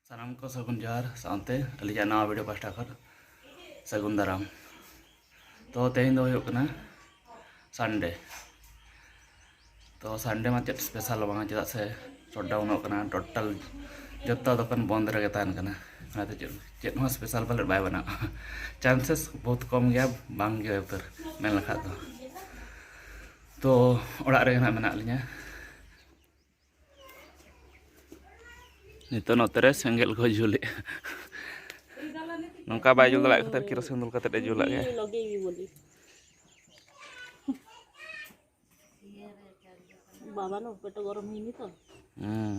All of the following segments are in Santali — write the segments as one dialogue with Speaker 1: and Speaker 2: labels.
Speaker 1: ᱥᱟᱱᱟᱢ ᱠᱚ ᱥᱟᱹᱜᱩᱱ ᱡᱚᱦᱟᱨ ᱥᱟᱶᱛᱮ ᱟᱹᱞᱤᱧᱟᱜ ᱱᱟᱣᱟ ᱵᱷᱤᱰᱤᱭᱳ ᱯᱟᱥᱴᱟ ᱠᱷᱚᱱ ᱥᱟᱹᱜᱩᱱ ᱫᱟᱨᱟᱢ ᱛᱚ ᱛᱮᱦᱮᱧ ᱫᱚ ᱦᱩᱭᱩᱜ ᱠᱟᱱᱟ ᱥᱟᱱᱰᱮ ᱛᱚ ᱥᱟᱱᱰᱮ ᱢᱟ ᱪᱮᱫ ᱥᱯᱮᱥᱟᱞ ᱵᱟᱝᱟ ᱪᱮᱫᱟᱜ ᱥᱮ ᱥᱚᱴᱰᱟᱣᱩᱱᱚᱜ ᱠᱟᱱᱟ ᱴᱳᱴᱟᱞ ᱡᱚᱛᱚ ᱫᱚᱠᱟᱱ ᱵᱚᱱᱫ ᱨᱮᱜᱮ ᱛᱟᱦᱮᱱ ᱠᱟᱱᱟ ᱚᱱᱟᱛᱮ ᱪᱮᱫ ᱪᱮᱫ ᱦᱚᱸ ᱥᱯᱮᱥᱟᱞ ᱯᱟᱞᱮᱫ ᱵᱟᱭ ᱵᱮᱱᱟᱜᱼᱟ ᱪᱟᱱᱥᱮᱥ ᱵᱚᱦᱩᱛ ᱠᱚᱢ ᱜᱮᱭᱟ ᱵᱟᱝ ᱜᱮ ᱩᱛᱟᱹᱨ ᱢᱮᱱ ᱞᱮᱠᱷᱟᱡ ᱫᱚ ᱛᱚ ᱚᱲᱟᱜ ᱨᱮᱜᱮ ᱱᱟᱜ ᱢᱮᱱᱟᱜ ᱞᱤᱧᱟ ᱱᱤᱛᱚᱜ ᱱᱚᱛᱮ ᱨᱮ ᱥᱮᱸᱜᱮᱞ ᱠᱚ ᱡᱩᱞᱮᱜᱼᱟ ᱱᱚᱝᱠᱟ ᱵᱟᱭ ᱡᱩᱞ ᱫᱟᱲᱮᱭᱟᱜ ᱠᱷᱟᱹᱛᱤᱨ ᱠᱮᱨᱳᱥᱤᱱ ᱫᱩᱞ ᱠᱟᱛᱮ ᱮ ᱡᱩᱞᱟᱜ ᱜᱮᱭᱟ ᱵᱟᱵᱟ
Speaker 2: ᱱᱚ ᱯᱮᱴ ᱜᱚᱨᱚᱢ ᱦᱩᱭᱱᱤ ᱛᱚ ᱦᱩᱸ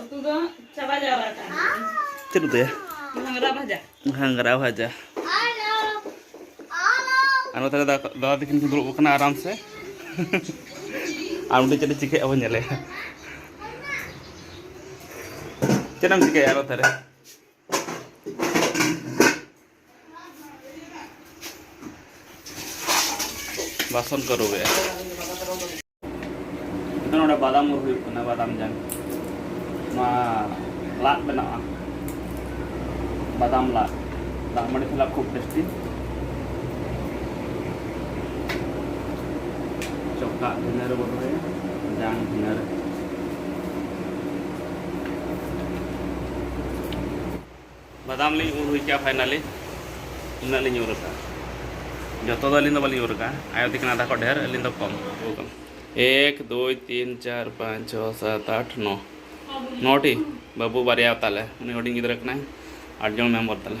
Speaker 1: ᱩᱛᱩ ᱫᱚ ᱪᱟᱵᱟ ᱡᱟᱣᱨᱟ ᱟᱠᱟᱱ ᱪᱮᱫ ᱩᱛᱩᱭᱟ ᱜᱷᱟᱝᱨᱟ ᱵᱷᱟᱡᱟ ᱜᱷᱟᱝᱨᱟ ᱵᱷᱟᱡᱟ ᱟᱨ ᱱᱚᱛᱮ ᱫᱟᱫᱟ ᱛᱟᱹᱠᱤᱱ ᱠᱤᱱ ᱫᱩᱲᱩᱵ ᱟᱠᱟᱱᱟ ᱟᱨᱟᱢ ᱥᱮ ᱟᱨ ᱩᱱᱤ ᱪᱮᱫ ᱮ ᱪᱤᱠᱟᱹᱭᱟ ᱵᱚᱱ ᱧᱮᱞᱮᱭᱟ ᱪᱮᱫ ᱮᱢ ᱪᱤᱠᱟᱹᱭᱟ ᱟᱨᱚ ᱛᱟᱦᱚᱞᱮ ᱵᱟᱥᱚᱱ ᱠᱚ ᱨᱩᱣᱮᱫᱼᱟ ᱱᱚᱰᱮ ᱵᱟᱫᱟᱢ ᱩᱨ ᱦᱩᱭᱩᱜ ᱠᱟᱱᱟ ᱵᱟᱫᱟᱢ ᱡᱟᱝ ᱱᱚᱣᱟ ᱞᱟᱫ ᱵᱮᱱᱟᱜᱼᱟ ᱵᱟᱫᱟᱢ ᱞᱟᱫ ᱫᱟᱜ ᱢᱟᱹᱰᱤ ᱥᱟᱞᱟᱜ ᱠᱷᱩᱵ ᱴᱮᱥᱴᱤ ᱪᱚᱠᱟ ᱵᱷᱤᱱᱟᱹ ᱨᱮᱵᱚ ᱫᱚᱦᱚᱭᱟ ᱡᱟᱝ ᱵᱷᱤᱱᱟᱹ ᱨᱮ ᱵᱟᱫᱟᱢ ᱞᱤᱧ ᱩᱨ ᱦᱩᱭ ᱠᱮᱜᱼᱟ ᱯᱷᱟᱭᱱᱟᱞᱤ ᱩᱱᱟᱹᱜ ᱞᱤᱧ ᱩᱨ ᱟᱠᱟᱫᱼᱟ ᱡᱚᱛᱚ ᱫᱚ ᱟᱹᱞᱤᱧ ᱫᱚ ᱵᱟᱹᱞᱤᱧ ᱩᱨ ᱟᱠᱟᱫᱼᱟ ᱟᱭᱳ ᱛᱟᱹᱠᱤᱱ ᱟᱫᱷᱟ ᱠᱷᱚᱱ ᱰᱷᱮᱨ ᱟᱹᱞᱤᱧ ᱫᱚ ᱠᱚᱢ ᱮᱠ ᱫᱩᱭ ᱛᱤᱱ ᱪᱟᱨ ᱯᱟᱸᱪ ᱪᱷᱚ ᱥᱟᱛ ᱟᱴ ᱱᱚ ᱱᱚᱴᱤ ᱵᱟᱹᱵᱩ ᱵᱟᱨᱭᱟ ᱛᱟᱞᱮ ᱩᱱᱤ ᱦᱩᱰᱤᱧ ᱜᱤᱫᱽᱨᱟᱹ ᱠᱟᱱᱟᱭ ᱟᱴ ᱡᱚᱱ ᱢᱮᱢᱵᱚᱨ ᱛᱟᱞᱮ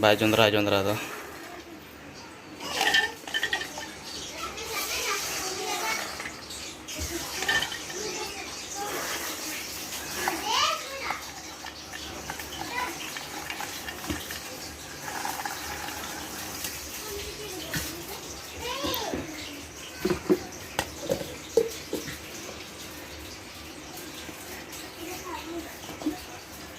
Speaker 1: ᱵᱟᱭ ᱡᱚᱸᱫᱽᱨᱟ ᱡᱚᱸᱫᱽᱨᱟ ᱫᱚ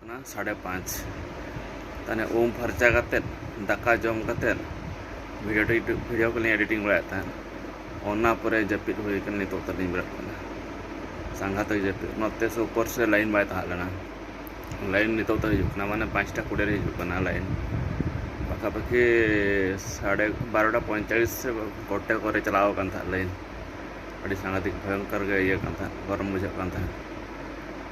Speaker 1: ᱠᱟᱱᱟ ᱥᱟᱲᱮ ᱯᱟᱸᱪ ᱛᱟᱦᱚᱞᱮ ᱩᱢ ᱯᱷᱟᱨᱪᱟ ᱠᱟᱛᱮᱫ ᱫᱟᱠᱟ ᱡᱚᱢ ᱠᱟᱛᱮᱫ ᱵᱷᱤᱰᱤᱭᱳ ᱴᱤᱰᱤᱭᱳ ᱵᱷᱤᱰᱤᱭᱳ ᱠᱚᱞᱤᱧ ᱮᱰᱤᱴᱤᱝ ᱵᱟᱲᱟᱭᱮᱫ ᱛᱟᱦᱮᱸᱫ ᱚᱱᱟ ᱯᱚᱨᱮ ᱡᱟᱹᱯᱤᱫ ᱦᱩᱭ ᱠᱟᱱᱟ ᱱᱤᱛᱚᱜ ᱛᱟᱹᱞᱤᱧ ᱵᱮᱨᱮᱫ ᱠᱟᱱᱟ ᱥᱟᱸᱜᱷᱟᱛᱮ ᱡᱟᱹᱯᱤᱫ ᱱᱚᱛᱮ ᱥᱮ ᱩᱯᱚᱨ ᱥᱮ ᱞᱟᱭᱤᱱ ᱵᱟᱭ ᱛᱟᱦᱮᱸ ᱞᱮᱱᱟ ᱞᱟᱭᱤᱱ ᱱᱤᱛᱚᱜ ᱛᱮ ᱦᱤᱡᱩᱜ ᱠᱟᱱᱟ ᱢᱟᱱᱮ ᱯᱟᱸᱪᱴᱟ ᱠᱩᱲᱤ ᱨᱮ ᱦᱤᱡᱩᱜ ᱠᱟᱱᱟ ᱞᱟᱭᱤᱱ ᱯᱟᱠᱷᱟᱯᱟᱠᱷᱤ ᱥᱟᱲᱮ ᱵᱟᱨᱚᱴᱟ ᱯᱚᱸᱭᱛᱟᱞᱤᱥ ᱥᱮ ᱜᱚᱴᱮ ᱠᱚᱨᱮ ᱪᱟᱞᱟᱣ ᱟᱠᱟᱱ ᱛᱟᱦᱮᱸᱫ ᱞᱟᱭᱤᱱ ᱟᱹᱰᱤ ᱥᱟᱸᱜᱷᱟᱛᱤᱠ ᱵᱷᱚᱭᱚᱝᱠᱚᱨ ᱜᱮ ᱤᱭᱟᱹ ᱠᱟᱱ ᱛᱟᱦᱮᱸᱫ ᱜᱚᱨᱚᱢ ᱵᱩᱡᱷᱟᱹᱜ ᱠᱟᱱ ᱛᱟᱦᱮᱸᱫ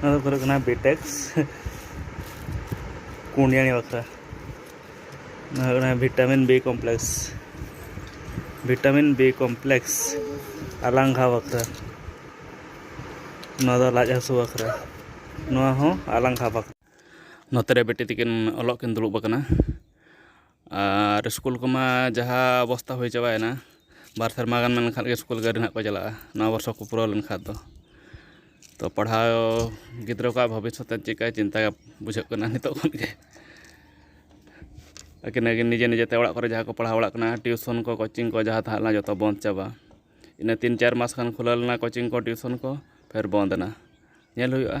Speaker 1: ᱱᱚᱣᱟ ᱫᱚ ᱦᱩᱭᱩᱜ ᱠᱟᱱᱟ ᱵᱤᱴᱮᱠᱥ ᱠᱩᱸᱰᱤᱭᱟᱹᱱᱤ ᱵᱟᱠᱷᱨᱟ ᱱᱚᱣᱟ ᱦᱩᱭᱩᱜ ᱠᱟᱱᱟ vitamin B complex vitamin B complex ᱟᱞᱟᱝᱜᱷᱟ ᱵᱟᱠᱷᱨᱟ ᱱᱚᱣᱟ ᱫᱚ ᱞᱟᱡ ᱦᱟᱹᱥᱩ ᱵᱟᱠᱷᱨᱟ ᱱᱚᱣᱟ ᱦᱚᱸ ᱟᱞᱟᱝᱜᱷᱟ ᱵᱟᱠᱷᱨᱟ ᱱᱚᱛᱮ ᱨᱮ ᱵᱤᱴᱤ ᱛᱟᱹᱠᱤᱱ ᱚᱞᱚᱜ ᱠᱤᱱ ᱫᱩᱲᱩᱵ ᱟᱠᱟᱱᱟ ᱟᱨ ᱥᱠᱩᱞ ᱠᱚᱢᱟ ᱡᱟᱦᱟᱸ ᱚᱵᱚᱥᱛᱷᱟ ᱦᱩᱭ ᱪᱟᱵᱟᱭᱮᱱᱟ ᱵᱟᱨ ᱥᱮᱨᱢᱟ ᱜᱟᱱ ᱢᱮᱱ ᱞᱮᱠᱷᱟᱱ ᱜᱮ ᱥᱠᱩᱞ ᱜᱮ ᱟᱹᱣᱨᱤ ᱱᱟᱦᱟᱜ ᱠᱚ ᱪᱟᱞᱟᱜᱼᱟ ᱱᱚᱣᱟ ᱵᱚᱨᱥᱚ ᱠᱚ ᱯᱩᱨᱟᱹᱣ ᱞᱮᱱᱠᱷᱟᱱ ᱫᱚ ᱛᱚ ᱯᱟᱲᱦᱟᱣ ᱜᱤᱫᱽᱨᱟᱹ ᱠᱚᱣᱟᱜ ᱵᱷᱚᱵᱤᱥᱥᱚᱛ ᱨᱮ ᱪᱮᱫᱠᱟᱭ ᱪᱤᱱᱛᱟᱹ ᱵᱩᱡᱷᱟᱹᱜ ᱠᱟᱱᱟ ᱱᱤᱛᱚᱜ ᱠᱷᱚᱱ ᱜᱮ ᱟᱹᱠᱤᱱ ᱟᱹᱠᱤᱱ ᱱᱤᱡᱮ ᱱᱤᱡᱮᱛᱮ ᱚᱲᱟᱜ ᱠᱚᱨᱮ ᱡᱟᱦᱟᱸᱭ ᱠᱚ ᱯᱟᱲᱦᱟᱣ ᱵᱟᱲᱟᱜ ᱠᱟᱱᱟ ᱴᱤᱭᱩᱥᱚᱱ ᱠᱚ ᱠᱳᱪᱤᱝ ᱠᱚ ᱡᱟᱦᱟᱸ ᱛᱟᱦᱮᱸ ᱞᱮᱱᱟ ᱡᱚᱛᱚ ᱵᱚᱱᱫᱽ ᱪᱟᱵᱟ ᱤᱱᱟᱹ ᱛᱤᱱ ᱪᱟᱨ ᱢᱟᱥ ᱠᱷᱟᱱ ᱠᱷᱩᱞᱟᱹᱣ ᱞᱮᱱᱟ ᱠᱳᱪᱤᱝ ᱠᱚ ᱴᱤᱭᱩᱥᱚᱱ ᱠᱚ ᱯᱷᱮᱨ ᱵᱚᱱᱫᱽ ᱮᱱᱟ ᱧᱮᱞ ᱦᱩᱭᱩᱜᱼᱟ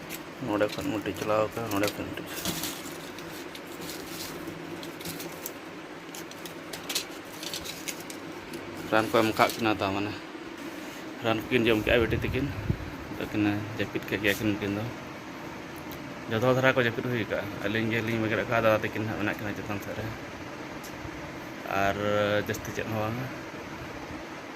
Speaker 1: ᱱᱚᱰᱮ ᱠᱷᱚᱱ ᱢᱤᱫᱴᱤᱡ ᱪᱟᱞᱟᱣ ᱟᱠᱟᱱᱟ ᱱᱚᱰᱮ ᱠᱷᱚᱱ ᱢᱤᱫᱴᱤᱡ ᱨᱟᱱ ᱠᱚ ᱮᱢ ᱟᱠᱟᱫ ᱠᱤᱱᱟ ᱛᱟ ᱢᱟᱱᱮ ᱨᱟᱱ ᱠᱚᱠᱤᱱ ᱡᱚᱢ ᱠᱮᱜᱼᱟ ᱵᱤᱴᱤ ᱛᱟᱹᱠᱤᱱ ᱟᱫᱚ ᱠᱤᱱ ᱡᱟᱹᱯᱤᱫ ᱠᱮᱫ ᱜᱮᱭᱟ ᱠᱤᱱ ᱩᱱᱠᱤᱱ ᱫᱚ ᱡᱚᱛᱚ ᱦᱚᱲ ᱫᱷᱟᱨᱟ ᱠᱚ ᱡᱟᱹᱯᱤᱫ ᱦᱩᱭ ᱟᱠᱟᱫᱼᱟ ᱟᱹᱞᱤᱧ ᱜᱮᱞᱤᱧ ᱵᱮᱸᱜᱮᱫ ᱟᱠᱟᱫᱼᱟ ᱫᱟᱫᱟ ᱛᱟᱹᱠᱤᱱ ᱦᱟᱸᱜ ᱢᱮᱱᱟᱜ ᱠᱤᱱᱟ ᱪᱮᱛᱟᱱ ᱥᱮᱫ ᱨᱮ ᱟᱨ ᱡᱟᱹᱥᱛᱤ ᱪᱮᱫ ᱦᱚᱸ ᱵᱟᱝᱟ